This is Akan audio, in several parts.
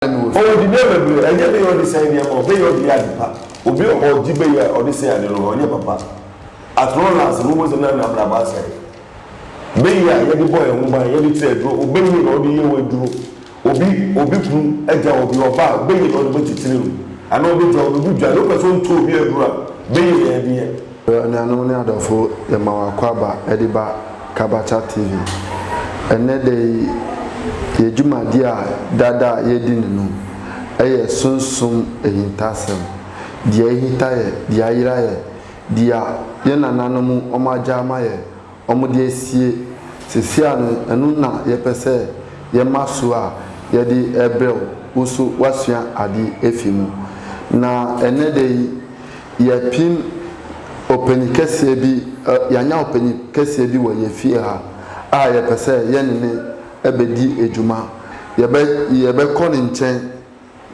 ne me wɔ fie. Ɔdi nneɛma abire. Ɛnyɛ beyɛ a ɔde sɛe nneɛma o, beyɛ a ɔde yɛ ade pa. Obi wɔ hɔ a, ɔgye beyɛ a ɔde sɛe ade no hɔ. Ɛnyɛ papa. At long last, muhu sɛ na n'abrabɔ asɛe. Beyɛ a yɛde bɔ yɛn ho ban, yɛde kyerɛ aduro, obeye na ɔde yɛ w'aduro. Obi, obi kunu agyaw obi, ɔba a, obeye na ɔde bɛkyekyere no. Anaa obegyaw no, obi dwane, wopɛ sɛ ɔntɔ obi aduro a, beye na yɛde yɛ. Well anuanom ne adɔfo yɛma wo akwaaba de ba Kabata TV. Ɛnnɛ da yi yɛ dwumadi a dada a yɛredi no no yɛ Sunsum Ahintasɛm, Deɛ Ahita Yɛ, Deɛ Ayera Yɛ, Deɛ yɛn nananom wɔn agya ama yɛ, wɔde asie seesei a no ɛno na yɛpɛ sɛ yɛma su a yɛde rebrɛ wo wo so woasua ade afi mu. Na ɛnnɛ da yi yɛapim ɔpanyin kɛseɛ bi ɛ yɛanya ɔpanyin kɛseɛ bi wɔ yɛn fie ha a yɛpɛ sɛ yɛne no bɛdi dwuma. Yɛbɛ yɛbɛkɔ ne nkyɛn.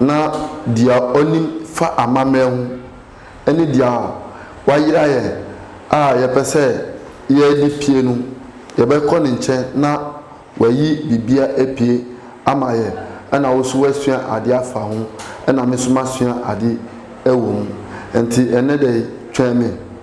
na deɛ ɔnim fa amammerɛ ho ne deɛ wayera yɛ a yɛpɛ sɛ yɛde pue no, yɛbɛkɔ ne nkyɛn na wayi biribiara apue ama yɛ na wo nso woasua adeɛ afa ho na me nso masua adeɛ wɔ mu. Nti ɛnnɛ da yi, twɛn me.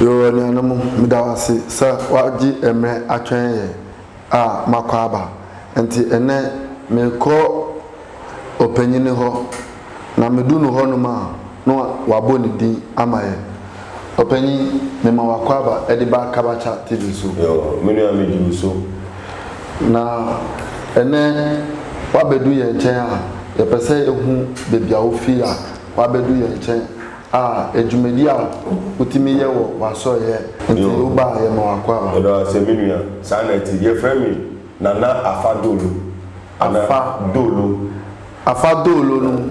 Yoo anuanom, meda wo ase sɛ woagye mmerɛ atwɛn yɛn a makɔ aba. Nti ɛnnɛ mekɔ ɔpanyini hɔ, na medu no hɔnom a na wabɔ ne din ama yɛn. Ɔpanyin, mema w'akwaaba de ba Kabacha TV so. Yo, me nua me di wo so. Na ɛnɛ w'abɛdu yɛn nkyɛn a, yɛpɛ sɛ yɛhu baabi a wofii a w'abɛdu yɛn nkyɛn a adwumadi a wotumi yɛ wɔ w'asɔreyɛ nti woba a yɛma w'akwaaba. Yɛda wo ase me nua, saa na ɛte. Yɛfrɛ me Nana Afa Dolo. Afa. Dolo. Afa Dolo no.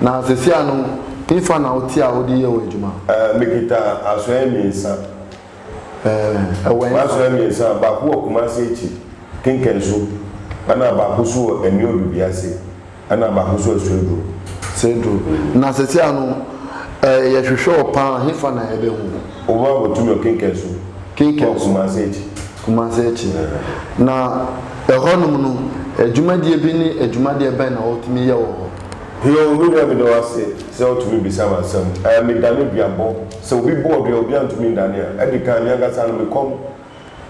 Na sesia no, he fa na wote a wode yɛ w'adwuma? Ɛɛ, mekita asoɛe mmiɛnsa. Ɛɛ, ɛwɔ he fa? M'asoɛe mmiɛnsa, baako wɔ Kumasi akyi, Kinkansu, ɛna baako nso wɔ Anio Dubi ase, ɛna baako nso wɔ Sedro. Sedro. Na sesia no, ɛɛ, yɛhwehwɛ wo pa ara, he fa na yɛbɛhu wo? Wo a wɔto me wɔ Kinkansu. Kinkansu. Wɔ Kumasi akyi. Kumasi akyi. Na ɛhɔnom no, adwumadie bi ne adwumadeɛ bɛn na wotumi yɛ wɔ hɔ? Hio, me nua meda wo ase sɛ wotumi bisa me asɛm. Ɛɛ, medane duabɔ. Sɛ obi bɔɔ dua a obiara ntumi nnane a, ɛde kan, me ankasa no, me kɔm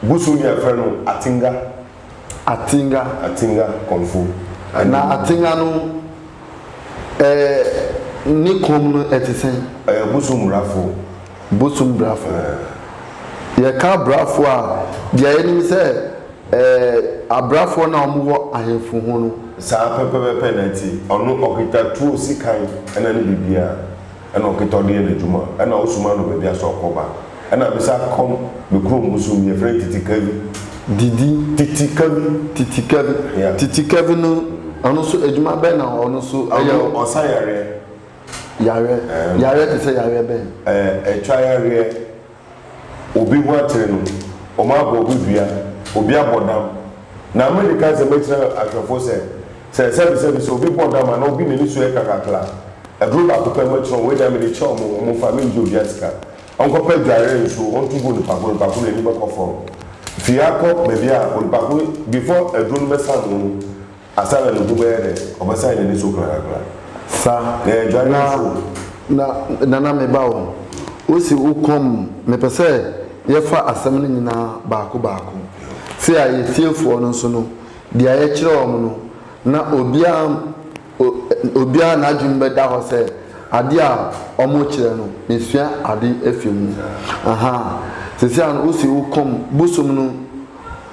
gu so nea yɛfrɛ no atenga. Atenga. Atenga, kɔmfo. Na atenga no, ɛɛ, ne kɔm no, ɛte sɛn? Ɛɛ, bosom murafo. Bosom brafo. Yɛka brafo a, deɛ yɛnim sɛ ɛɛ abrafoɔ no a wɔwɔ ahemfo ho no. Saa pɛpɛpɛpɛ na ɛte. Ɔno ɔkita tuo sikan ɛna ne biribiara. Ɛna ɔkita ɔde yɛ n'adwuma. Ɛna wosoma no baabi asɛ ɔkɔba. Ɛna me sa kɔm me kurom bosom bi yɛfrɛ no Titi Kavi. Didi. Titi Kavi. Titi Kavi. Yeah. Titi Kavi no ɔno nso adwuma bɛn na ɔno nso ɛyɛ? Ɔno ɔsa yareɛ. Yareɛ, yareɛ te sɛ yareɛ bɛn? Ɛɛ, ɛtwa yareɛ, obi ho atere no, wɔabɔ obi dua, obi abɔ dam. Na mede ka nsɛm kyerɛ ahwɛfoɔ sɛ, sɛ sɛbesɛbe sɛ obi bɔ dam anaa obi n'ani so yɛ kakrakra a, aduro baako pɛ mɛkyerɛ wɔn, wei deɛ mede kyerɛ wɔn, wɔmfa, menngye obiara sika, ɔnkɔpɛ adwareɛ nsuo ɔnto gu onipa ko, onipa ko n'ani bɛkɔ fam. Firi ha kɔ baabi a onipa ko, before aduro no bɛsam wɔn mu, Asare no ho bɛyɛ dɛ, ɔbɛsan n'ani so korakora. Fa eh, dware wo fon. Na, na, Nana me ba o, wo se wo kɔm, mepɛ sɛ yɛ fa asɛm no nyinaa baako baako. Se a yɛ fiefoɔ no nso no, deɛ yɛ kyerɛ wɔn no, na obiara, o, obiara n'adwene bɛ da hɔ sɛ adeɛ a wɔn kyerɛ no, me sua ade afi mu. Ahaa, sese a no, wo se wo kɔm, bosom no,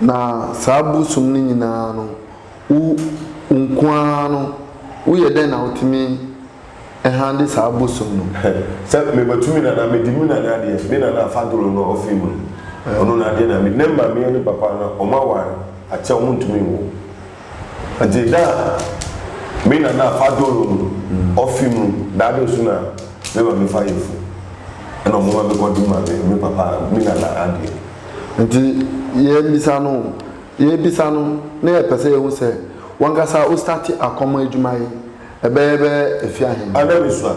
Na saa bosom no nyinaa no, wo wo nko ara no, woyɛ dɛn na wotumi handle saa bosom no? Sɛ mebɛto me nana, mede me nana adeɛ, me nana a fadoro no a ɔfiri mu no, ɔno n'adeɛ na mede, ne maame ne papa no, wɔn aware akyɛ, wɔntumi nwo. Dze da a me nana a Padoro no ɔfe mu da do so na me ma me fa yefun na ɔmo ma me kɔ do ma me me papa me nana adeɛ. Ntsi yɛbisa no yɛbisa no na yɛpɛ sɛ yehu sɛ wankasa ostate akɔmɔ edwuma yi bɛyɛ bɛ efi ahen. Ana me sua?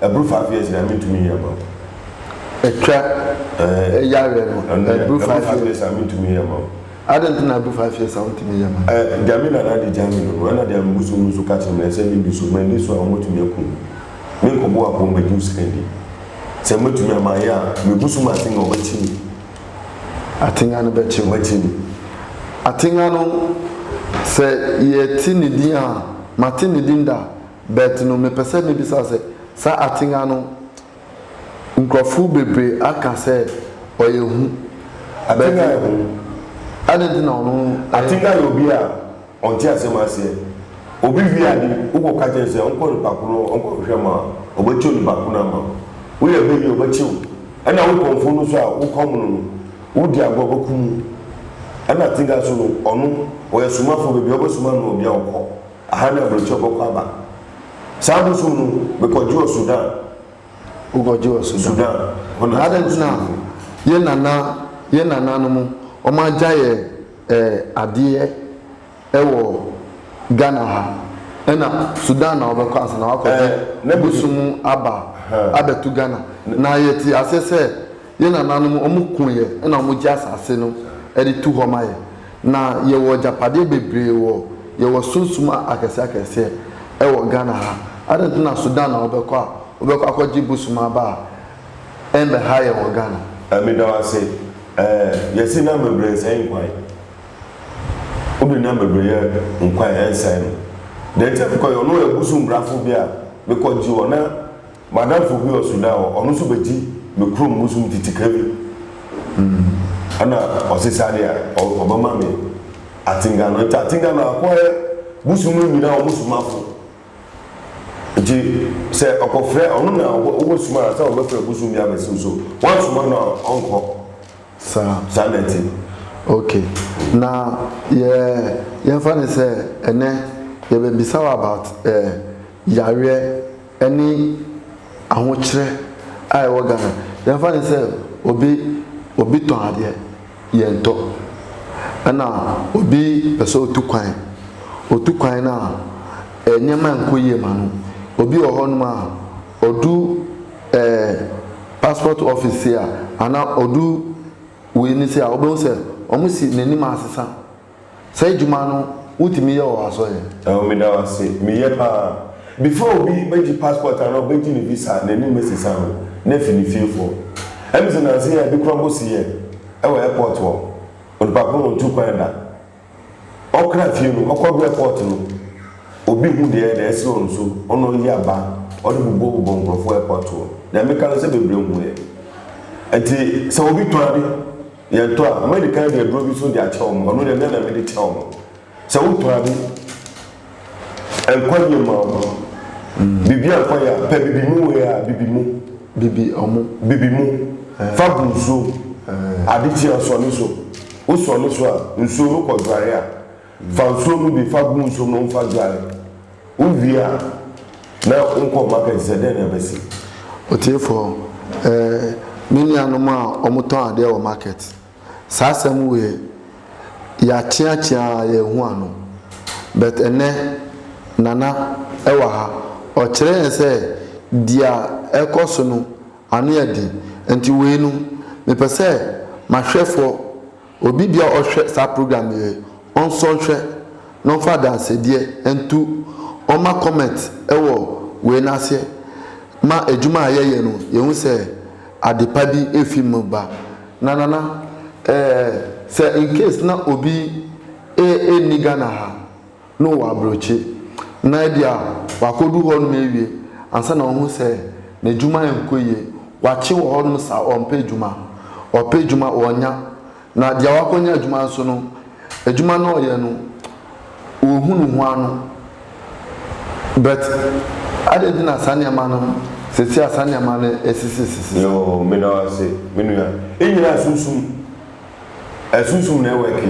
Ɛboro five years deɛ mentumi nyɛ ma wo. Ɛtwa ɛɛ yareɛ no ɛboro five years. Ɛboro five years a mentumi nyɛ ma wo. Adɛn nti na ɛboro five years a wontumi nyɛ ma no. Ɛɛ deɛ me nana de gya me no no ɛna deɛ me bosom no nso ka kyerɛ me sɛ menni so manni so a wɔatumi akum me. Menkɔbɔ apɔw mmɛgye wo sika ndi. Sɛ matumi a mayɛ a me bosom atenga ɔbɛkye me. Atenga no bɛkye wo. Ɔbɛkye me. Atenga no sɛ yɛte ne din a mate ne din da. But no mepɛ sɛ mebisa sɛ, saa Atenga no nkurɔfo bebree aka sɛ ɔyɛ hu. Atenga yɛ hu. Adɛn nti na ɔno ɛyɛ? Atenga yɛ obi a ɔnte asɛm aseɛ. Obi wie ade, wokɔ ka kyerɛ no sɛ ɔnkɔ nipa ko no hɔ ɔnkɔ hwehwɛ ma wo a, ɔbɛkyɛ onipa ko no ama wo. Woyɛ bayie a, ɔbɛkye wo. Ɛna wo kɔmfo no nso a wokɔ mono no, wodi agorɔ ɔbɛkum wo. Ɛna Atenga nso no, ɔno ɔyɛ somafoɔ, baabi a wobɛsoma no no, baabi a ɔkɔ. Aha na aburokyɛw bɔkɔ aba. Saa bosoom no me kɔ gyɔɔ Sudan. Wo kɔ gyɔɔ Sudan. Sudan hɔ na. Na adɛn nti na yɛn nana yɛn nana nom wɔn agya yɛ eh adeɛ ɛwɔ Ghana ha ɛna Sudan na wɔbɛ kɔ ansa na wɔakɔ gye bosoom aba abɛ to Ghana na yɛ te aseɛ sɛ Yɛn nananom, wɔko yɛ na wɔgye asase no de to hɔ ma yɛ. Na yɛwɔ agyapadeɛ bebree wɔ, yɛwɔ sunsum akɛseɛ akɛseɛ wɔ Ghana ha. Adɛn nti na Sudan na wobɛkɔ a, wobɛkɔ akɔgye bosom aba a ɛmmɛha yɛn wɔ Ghana? Meda wo ase. Ɛɛ, yɛse nam bebree nsɛe nkwan. Wode nam bebree yɛ nkwan ɛnsɛe no. Deɛ nti a mekɔyɛ, ɔno ɔyɛ bosom brafo bi a mekɔgye wɔ na. M'adamfo bi wɔ Sudan hɔ, ɔno so bedzi me kurom bosoom ntsi tsikra bi na ɔsesa dɛ ɔbɛma me atsenga no. Ntsi atsenga no akɔyɛ bosoom no nyina hɔn somafo. Ntsi sɛ ɔkɔfrɛ, ɔno na ɔbɔsoma ansaana ɔbɛfrɛ bosoom bi abɛsew so, ɔannsoma no a ɔnnkɔ. Saa. Saa na ɛtse. Ok, na yɛ yɛmfa no sɛ ɛnɛ yɛbɛbisa wo about eh yareɛ. ɛne ahokyerɛ a ɛwɔ Ghana. Yɛmfa no sɛ obi obi tɔn adeɛ, yɛntɔ. Ɛna obi pɛ sɛ ɔtu kwan. Ɔtu kwan no a, nneɛma nkɔ yie ma no. Obi wɔ hɔnom a, ɔdu ɛɛ passport office sei a, anaa ɔdu wei no sei a, wobɛhu sɛ wɔsi n'anim asesa. Saa adwuma no wo tumi yɛ wɔ asɔre? Ɛwɔ me da wo ase me yɛ paa before obi bɛ gye passport anaa ɔbɛ gye ne visa a n'anim bɛ sesa no na afi ne fie foɔ ɛm sɛ nansa yi a ebi kora bɔ si yɛ ɛwɔ airport hɔ onipa koro na ɔtu kwan da ɔkra fie no ɔkɔ do airport no obi hu deɛ na ɛsrɛ ɔno so ɔna ɔyi aba ɔde bobɔ bobɔ nkorɔfoɔ airport hɔ deɛ me ka no sɛ bebree hu yɛ ɛnti sɛ obi tɔn ade. Yɛtɔ a, madi kan de aduro bi nso de akyɛ wɔn. Ɔno deɛ, me ara na mede kyɛ wɔn. Sɛ wotɔ ade, nkwagyeɛ mma wɔn. Biribiara a nkwa yɛ a, pɛ bibi mu wei a, bibi mu. Bibi wɔn. Bibi mu. Fa gu nsuom. Ade kye a, sɔne so. Wosɔne so a, nsuo no kɔ dware a. Fa nsuo no bi fa gu nsuom no mu fa dware. Wowie a, na wonkɔ market sɛ dɛn na ɛbɛsi? Otiefoɔ, Ɛɛ, me nuanom a wɔtɔn adeɛ wɔ market, saa asɛm wei, yɛakyeakyea ara yɛanhu ano. But ɛnnɛ, Nana wɔ ha, ɔkyerɛ yɛn sɛ deɛ ɛrekɔ so no, ano yɛ den. Nti wei no, mepɛ sɛ m'ahwɛfoɔ. Obi bia ɔhwɛ saa program yɛ ɔnsɔ nhwɛ na ɔmfa adansedeɛ nto ɔmma comment wɔ wei no aseɛ ma adwuma a yɛyɛ no yɛhu sɛ adepa bi ɛfi mu ba. Na Nana ɛɛ sɛ incase na obi ɛnni Ghana ha. no wɔ aburokyi, na ebia wakodu hɔnom awie ansa na wahu sɛ n'adwuma nkɔ yie. Wakye wɔ hɔnom saa, ɔmpɛ adwuma. Ɔpɛ adwuma, ɔnnya. Na deɛ wakɔnya adwuma nso no, adwuma no a ɔyɛ no, ɔnhu ne ho ano. But adɛn nti na saa nneɛma no, seesei a saa nneɛma no asisisisi? Yoo, meda wo ase, me nua. Yɛn nyinaa sunsum Ɛsunsum na ɛwɛke.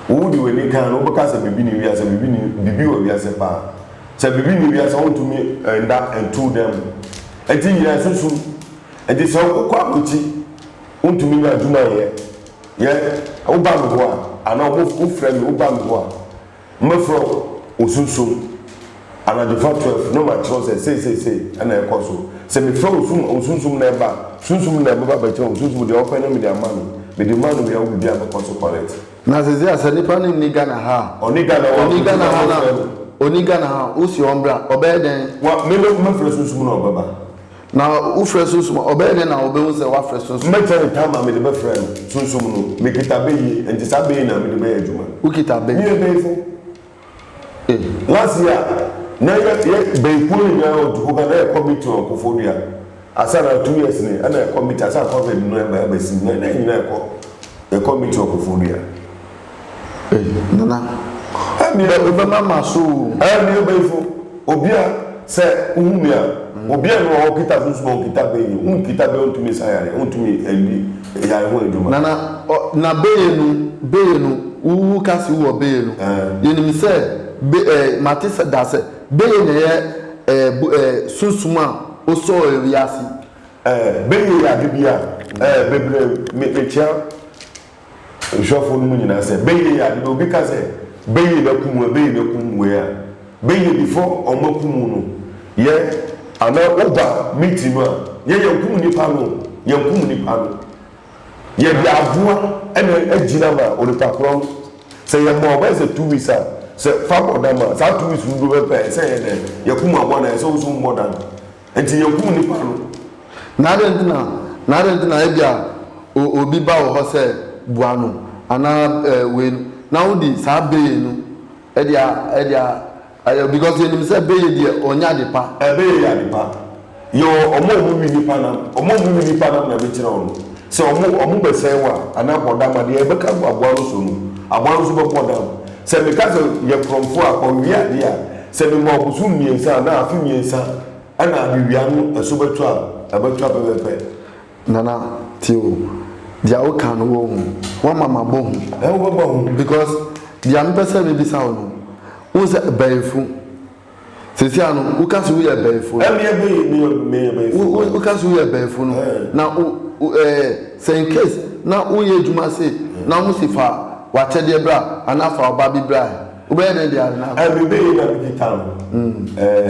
Wo wode w'ani kan no, wobɛka sɛ biribi nni wiase, biribi nni, biribi wɔ wiase paa. Sɛ biribi nni wiase a, wontumi nda nto dan mu. Enti nyinaa ɛsunsum. Enti sɛ wokɔ abrokyir, wontumi nya adwuma nyɛ. Yɛ, woba me hɔ a, anaa wɔfrɛ me, woba me hɔ a. Mɛfrɛ wo sunsum anadwofa twelve na makyerɛ wo sɛ sei sei sei na ɛrekɔ so. Sɛ mefrɛ wo sum wo sunsum na ɛba a, sunsum no na ɛbɛba abɛkyerɛ wo. Sunsum deɛ ɔpɛ no mede ama no. Mede maa no wie a wo biribiara bɛkɔ so correct. Na sesei a sɛ nipa no nni Ghana ha a. Ɔnni Ghana wɔ a, Ɔnni Ghana ha na ɔnni Ghana ha a, wose ɔmbra, ɔbɛyɛ dɛn? Wa, me na mɛfrɛ sunsum na ɔbɛba. Na wofrɛ sunsum a, ɔbɛyɛ dɛn na wobehu sɛ woafrɛ sunsum? Mɛkyɛ ne tam a mede bɛfrɛ no, sunsum no. Mekita bɛ yie, enti saa bɛ yi na mede bɛyɛ adwuma. Wokita bɛ? Meyɛ bɛyifo. Eh. Last year, na yɛ, yɛ, bɛyikuo no nyinaa wɔ Dukuga, na yɛkɔ meeting wɔ Koforidua. Ansa na two years ni, ɛna yɛkɔ meeting, ansa na Covid no reba abɛsim no, na yɛn nyinaa yɛkɔ, yɛkɔ meeting wɔ Koforidua. Ei, Nana, ɛnneɛ wobɛma m'aso o. Ɛɛ, me Ɔbɛyifo, obi a sɛ wohu me a, obi a mewɔ hɔ ɔkita sunsum a ɔkita bɛn yi, wonkita bɛn a ontumi nsa yareɛ, ontumi nni yare ho adwuma. Nana, ɔ, na bɛyɛ no, bɛyɛ no, wo, woka se wowɔ bɛyɛ no. Ɛɛ. Yɛnim sɛ, bɛ, ɛɛ, mate sɛ daa sɛ bɛyɛ na ɛyɛ, ɛɛ, bu, ɛɛ, sunsum a osɔɔ wiase. Ɛɛ, bɛyɛ yɛ ade bi a, ɛɛ, bebree, me, mekyea nhwɛfoɔ no mu nyinaa sɛ, Bɛyɛ yi ade no, obi ka sɛ, Bɛyɛ na kum wei, bɛyɛ na kum wei a, bɛyɛ before ɔma kum wo no, yɛ. Anaa woba meeting no a, yɛ yɛnkum nnipa no o, yɛnkum nnipa no. Yɛde aboa na agyina ma onipa korɔ no. Sɛ yɛma ɔbɛyɛ sɛ two weeks a, sɛ fa bɔ dam a, saa two weeks no duru pɛpɛɛ, ɛsɛ yɛ dɛn? Yɛkum aboa no a, ɛsɛ wo nso wobɔ dam. Enti yekum nnipa no. Na adɛn nti na, na adɛn nti na ebia o, obi ba wo hɔ sɛ boa no, anaa ɛɛ wei no, na wode saa beye no de a, de a, ayɛ, because yɛnim sɛ beye deɛ ɔnyɛ adepa. Beye yɛ adepa. Yɛwɔ wɔn a wɔwe nnipa nam, wɔn a wɔwe nnipa nam na mekyerɛ wo no. Sɛ wɔn, wɔn bɛsɛe wo a, anaa akɔdam a, deɛ yɛbɛka agu aboa no so no, aboa no nso bɛkɔ dam. Sɛ meka sɛ, yɛ korɔmfoɔ a, kɔwe adeɛ a, Sɛ mema ɔbosom mmiɛnsa anaa afe mmiɛnsa na mewia no ɛso bɛtɔ a, ɛbɛtɔ pɛpɛpɛ. Nana tie o, deɛ woka no wɔ hu, woama mabɔ hu. Ɛɛ wobɛbɔ hu? Because deɛ mepɛ sɛ mebisa wo no, wohu sɛ bɛyifo, seesei ano woka se woyɛ bɛyifo no. Ɛmeɛ bɛyi meyɛ meyɛ bɛyifo. Wo woka se woyɛ bɛyifo no, na wo ɛɛ sɛ in case na woyɛ adwuma se na wɔn se fa w'akyɛdeɛ bra anaa fa wo ba bi bra ɛ. Wobɛyɛ dɛn de awena akɔ? Ɛnde bɛn na mede tan wo?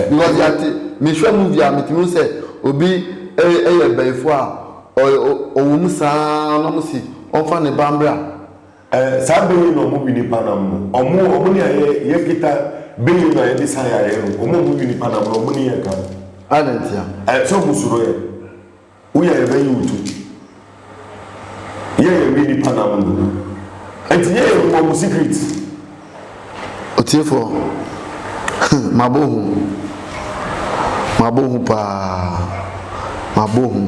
Because yɛate, mehwɛ movie a metumi hu sɛ obi yɛ bayifoɔ a ɔwɔ mu saa na ɔmo se ɔmfa ne ba mbra. Saa bɛ yi na ɔmo wi nipa nam no. Ɔmo ɔmo ne ayɛ yɛ kita bɛ yi na yɛde sa yareɛ no. Ɔmo a ɔmo wi nipa nam no ɔmo ne yɛ ka. Adɛn ntia? Sɛ ɔmo suro yɛ. Wo yɛ yɛbɛ yi wo to ti. Yɛ yɛ wi nipa nam no. Ɛnti yɛ yɛ hu ɔmo secret. Ɔtiefoɔ hmm mabɔ hu mabɔ hu paa mabɔ hu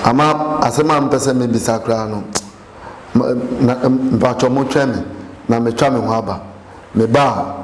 ama asɛm a mpɛ sɛ mebisa koraa no na mpatwɔ mo twɛn me na metwa me ho aba meba a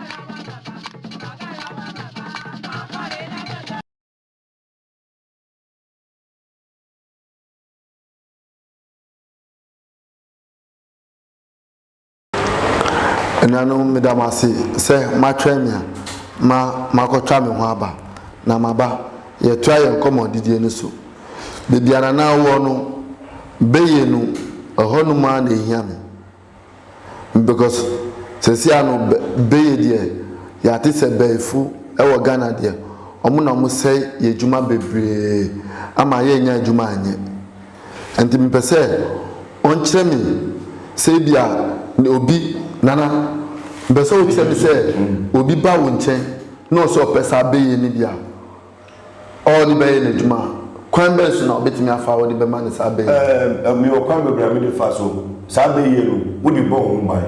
anuanom meda mo ase sɛ moatwɛn me a ma makɔtwa me ho aba na maba yɛtoa yɛn nkɔmmɔ didie no so baabi a nana wɔ no bɛyɛ nu ɛhɔ nom ara na ɛhia me because sɛsia no bɛyɛ deɛ yɛate sɛ bɛɛfo wɔ Ghana deɛ ɔmo na ɔmo sɛe yɛ adwuma bebree ama yɛ nnya adwuma nyɛ nti mepɛ sɛ ɔnkyerɛ me sɛ ebia obi nana mepɛ sɛ ɔkyerɛ me sɛ obi ba wo nkyɛn na ɔsɛ ɔpɛ saa bɛyɛ no bi a. ɔde bɛyɛ n'adwuma a, kwan bɛn so na wobɛtumi afa a wode bɛma no saa bɛ yi? Ɛɛ, mewɔ kwan bebree a mede fa so. Saa bɛ yi no, wode bɔ wo ho ban.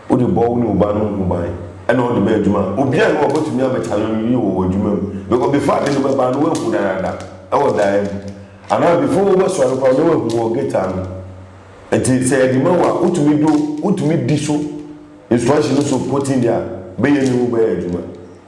Wode bɔ wo ne wo ba no ho ban, ɛna wode bɛ adwuma a, obiara nni hɔ a ɔbɛtumi abɛkyale wo yiye wɔ w'adwuma mu. Because before ade no bɛba no, woahu dadaada wɔ daeɛ mu. Anaa before wobɛsɔre koraa no, na woahu wɔ gate ano. Enti sɛ yɛde ma wo a, wotumi do, wotumi di so, instruction no so pɔtee deɛ a, bɛ yi no bɛyɛ adwuma.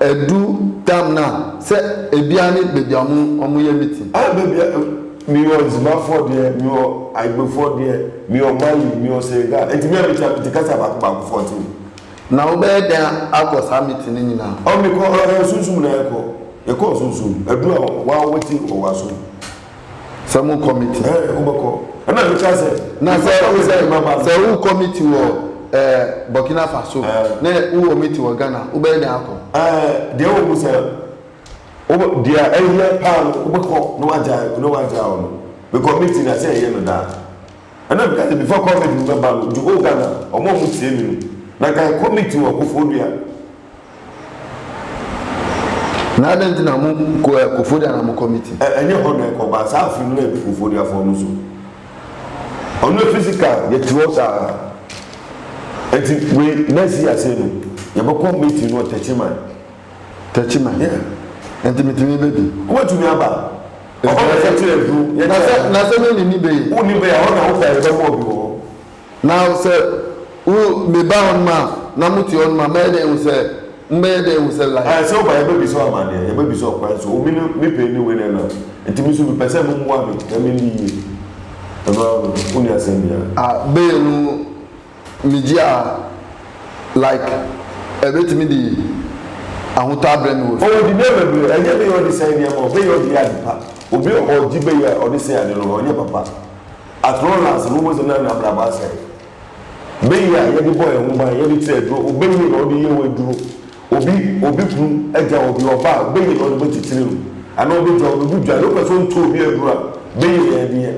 Ɛdu tam no a, sɛ ebiaa ne baabi a ɔmo yɛ meeting. Ah baabi a, mewɔ Nzimafoɔ deɛ, mewɔ Igbofoɔ deɛ, mewɔ Mali, mewɔ Senegal, enti me a mekyia mete kasa baako baako fourteen. Na wo bɛyɛ dɛn akɔ saa meeting no nyinaa? Oh mekɔ, ɛɛ Sunsum na yɛkɔ, yɛkɔ Sunsum, ɛduru a waa wɔ ti wɔ wasom. Sɛ mo kɔ meeting. Ɛɛ eh, wobɛkɔ. Ɛna mekyɛ sɛ. Na sɛ wo sɛ sɛ wokɔ meeting wɔ ɛɛ eh, Burkina Faso. Ɛɛ. Eh. Ne wowɔ meeting wɔ Ghana, wobɛyɛ dɛn akɔ? Ɛɛ eh, deɛ wɔ mu sɛ wobɛ deɛ ɛyɛ paa no wobɛkɔ na wagya na wagya wɔ no. Mekɔ meeting na sɛ ɛyɛ no daa. Ɛna meka sɛ before COVID no bɛba no, nti o Ghana ɔmo a ɔmo tie me no. Na nka ɛkɔ meeting wɔ Koforidua. Na adɛn nti na mo ko ɛ Koforidua na mo kɔ meeting? Ɛ ɛnyɛ hɔ na ɛkɔ ba saa afi no na ɛdu Koforiduafoɔ no so. Ɔno yɛ physical yɛ te hɔ saa. Ɛnti wei next year sei no yɛ bɛ kɔ meeting no wɔ Techiman. Techiman? Yeah. Ɛnti meeting yi bɛ di? Wo bɛ tumi aba. Ɛhɔ na yɛ kyerɛ aduro. Yɛ kyerɛ. Na sɛ me ne ni bɛ yi? Wo ni bɛ yi a hɔ na wo pɛ a yɛ bɛ bɔ bi wɔ hɔ. Na sɛ wo, meba hɔnom a, na mote hɔnom a, mɛyɛ dɛn ahu sɛ, mobɛyɛ dɛn ahu sɛ life. Ɛɛ, sɛ woba a, yɛbɛbisa wo amanneɛ, yɛbɛbisa wo kwan so, obi no, me pain no wei na ɛnam, nti me nso mepɛ sɛ mommoa me na menni yie. Ɛno ara no, wonni asɛm biara. Ah, bail no, megye a, like, ɛbɛtumi de ahotɔ abrɛ me wɔ fie? Oh, dibea bebree, ɛnyɛ bail a wɔde sɛe nneɛma o, bail a wɔde yɛ ade pa. Obi a ɔgye bail a wɔde sɛe ade no, ɔnyɛ papa. At long last, muhu dze na n'abrabɔ asɛɛ. Bɛyie a yɛde bɔ yɛn ho ban, yɛde te aduro, ɔbɛyie na ɔde yɛ wo aduro. Obi, obi kunu agya obi, ɔba a, ɔbɛyie na ɔde bɛkyekyere no, anaa ɔbɛgya wo, bɛgu dwa, deɛ wopɛ sɛ ɔnto obi aduro a, bɛyie na yɛde yɛ.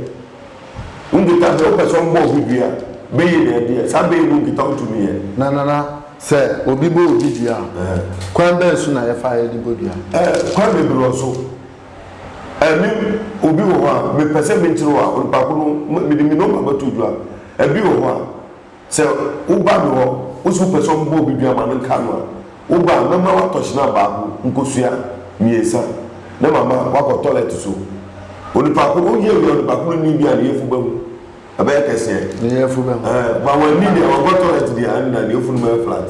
Nkita, deɛ wopɛ sɛ ɔmbɔ obi dua a, bɛyie na yɛde yɛ. Saa bɛyie no nkita wotumi yɛ. Na Nana, sɛ obi bɔ obi dua a, kwan bɛn so na yɛfa yɛde bɔ dua? Ɛɛ, kwan bebree wɔ so. Ɛɛ me obi wɔ hɔ a mepɛ sɛ menti no a onipa ko no mede me nɔma bɛto dwa. Ɛbi wɔ hɔ a sɛ woba me hɔ wose wopɛ sɛ ɔmobɔ obi dua ma no nka no a woba a mɛma woatɔ hyena baako nkosua mmiɛnsa na mama woakɔ tɔlɛt so. Onipa ko no woyɛ wie a onipa ko no nni bi a ne yafunu bɛhu ɛbɛyɛ kɛseɛ. Ne yafunu bɛhu. Ɛɛ ma wanni deɛ wankɔ tɔlɛt deɛ a ɛnna ne yafunu bɛyɛ flat.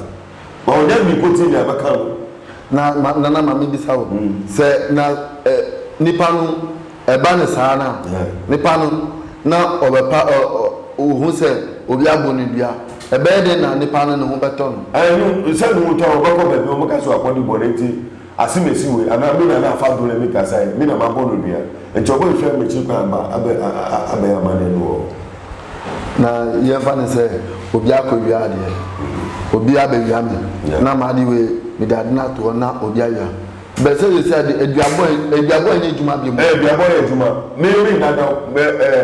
Ma wo dɛ mipotsee nea mɛkã wo. Na ma nana ma mibisa wo, sɛ na ɛ nipa no ɛba no saa no a, nipa no na ɔbɛpa ɔ ɔ ohu sɛ obi abɔ no dua, ɛbɛyɛ dɛn na nipa no ne ho bɛtɔ no? Ɛ no sɛ no wotɔ a, ɔbɛkɔ baabi a wɔbɛka sɛ ɔakɔdi bɔn ntsi. Asem esi wei anaa me na na afa do na me kasae me na mabɔ no dua nti ɔbɔ nhwɛ mekyiri kwan aba abɛ abɛyɛ amaneɛ no wɔ hɔ na yɛn fa no sɛ obi akɔ wia adeɛ obi abɛ wia me na ma ade wei me de ade no ato hɔ na obi awia bɛ sɛ sɛsi ade aduabɔ aduabɔ ɛnyɛ adwuma bio mo. Ɛɛ aduabɔ yɛ adwuma me me dadaw bɛ ɛɛ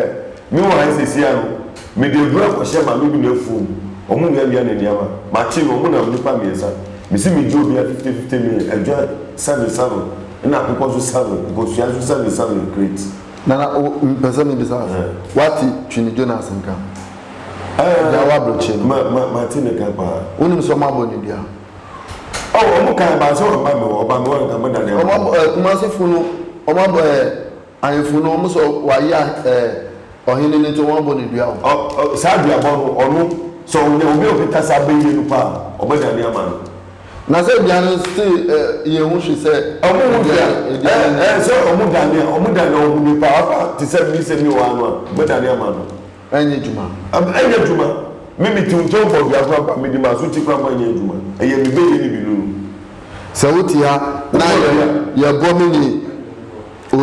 me wɔ ha sɛsi ano. Mede abura kɔhyɛ maame bi n'afuo mu, ɔmo wiawia ne nneɛma, makye no, ɔmo nam nnipa mmiɛnsa, mese megye obiara fifte fifte million, adwan, seven seven, ɛna akokɔ nso seven, nkosua nso seven seven crate. Nana wo mpɛ sɛ me bisa ase, wate Twini Jonas nka? Agyae w'abrɔkyɛ no. Ma ma mate ne ka paa. Wo nim sɛ ɔmo abɔ ne dua? Oh ɔmo kan baa sɛ wamma me hɔ, ɔba me hɔ a nka mo da ne aba. Ɔmo abɔ ɛɛ Kumasi fo no, ɔmo abɔ ɛɛ. Ahenfo no, wɔn sɛ wɔayɛ eh, ɔhene no nti wɔabɔ no dua o. Ɔ ɔ saa duabɔ no, ɔno, sɛ ɔnya obi a ɔkita saa bɛ yie no paa a, ɔbɛdane ama no. Na sɛ dua no still eh, yɛn ho hwi sɛ. Ɔmo ho hwi a, eh eh, sɛ ɔmo dane a, ɔmo dane a ɔmo ni paa, afa te sɛ me sɛ me wɔ ha no a, ɔbɛdane ama no. Ɛnyɛ adwuma. Am, ɛnyɛ adwuma. Me mete wo nkyɛn bɔ dua koraa mpo a, mede m'asote koraa mpo a, ɛnyɛ adwuma. Ɛyɛ me bɛyɛ no bi no no. Sɛ wote ha na Wobɔ yɛ, dua. yɛbɔ me ne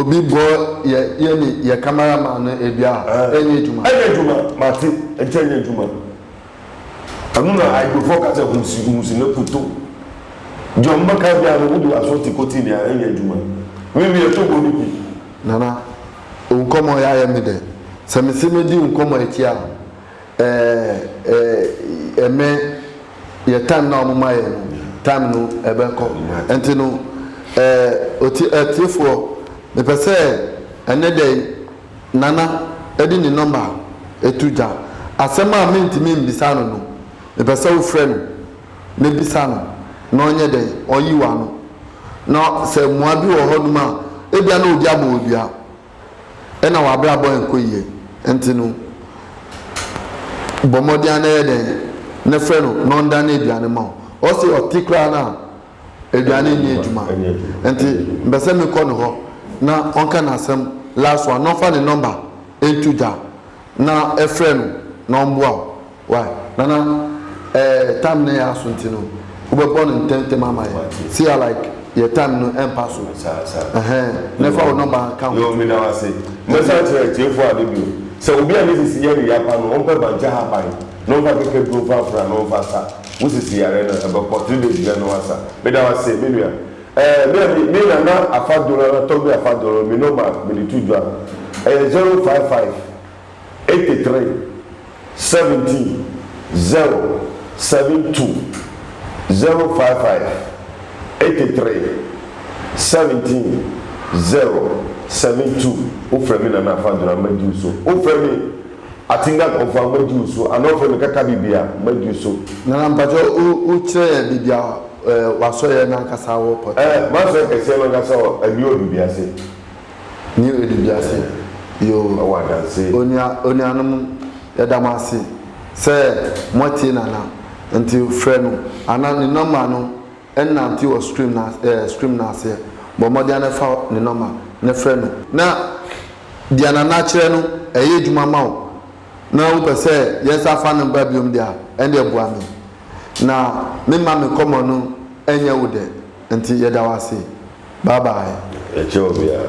obi bɔ yɛ, yɛ ne yɛ camera man no dua a, Ɛɛ. ɛnyɛ adwuma. Ɛnyɛ adwuma. Mate. Ɛnti ɛnyɛ adwuma. Ɛno na Igbofɔ ka sɛ husi, husi na kuto. Deɛ ɔmo bɛka biara no, wode w'asote kɔti nea, ɛnyɛ adwuma. Me meyɛ tobo no bi. Nana. Wo nkɔmmɔ yi ayɛ me dɛ. Sɛ me se medi wo nkɔmmɔ yi akyi a, eh, eh, me, yɛ time no a wɔn ma yɛn no, time no ɛbɛkɔ. Nti no, eh, otie, atiefoɔ, mepɛ sɛ ɛnɛ da yi Nana de ne number to gya. Asɛm a mentumi mmisaa no no, mepɛ sɛ wofrɛ no. na bisa no na ɔnyɛ dɛn? Ɔnyiw ano. Na sɛ mmoa bi wɔ hɔnom a, ebia na obi abɔ wo dua na w'abrabɔ nkɔ yiye. Enti no, bɔ mmɔden ara na yɛ dɛn? Na frɛ no na ɔndane aduane mma wo. Ɔse ɔte koraa no a, aduane nyɛ adwuma. Enti mepɛ sɛ mekɔ ne hɔ na ɔnka n'asɛm last one, na ɔmfa ne nɔmba nto gya na frɛ no na ɔmboa wo. Wai nana ɛɛ time no yɛ aso nti no wobɛbɔ no ntɛm ntɛm ama yɛ si a like yɛ time no ɛmpa so ɛhɛn na fa wo nɔmba ka ho. Yoo meda wo ase. Mɛsan akyerɛ atiefo ade bio sɛ obi a ne sisi yare ya pa no ɔmpɛ bankye haban na ɔmfa kɛkɛ duro mfa afra na ɔmfa sa wo sisi yare no ɛbɛkɔ three days biara na wasa. Meda wo ase me nua. Ɛɛ me a me me nana afa doro nana tɔgbe afa doro me nɔmba mede to dwa ɛyɛ zero five five. eighty three seventeen zero seven two zero five five eighty three seventeen zero seven two wofrɛ me Nana Afah Durah mɛgye wo so wofrɛ me Atinga Konfah mɛgye wo so anaa wofrɛ me Kaka Bibia mɛgye wo so. Nana mpakyɛ wo wo kyerɛ yɛn baabi a eh w'asɔeɛ no ankasa wɔ pɔtee. Eh m'asɔeɛ kɛseɛ no ankasa wɔ Adiwo Adubiase. Nea ɔredi wiase yi o. Wɔ adanse. Onua, onuanom, yɛda mo ase sɛ moatie Nana, nti frɛ no anaa ne nɔma no nnante wɔ screen no ase, ɛɛ, screen no aseɛ. Bɔ mmɔden ara na fa ne nɔma na frɛ no. Na deɛ Nana akyerɛ no, ɛyɛ adwuma ma wo, na wopɛ sɛ yɛsan fa no ba biom deɛ a, ɛnneɛ boa me, na memma me nkɔmmɔ no nyɛ wo dɛ. Nti yɛda wo ase. Bye bye. Yɛkyɛ obiara.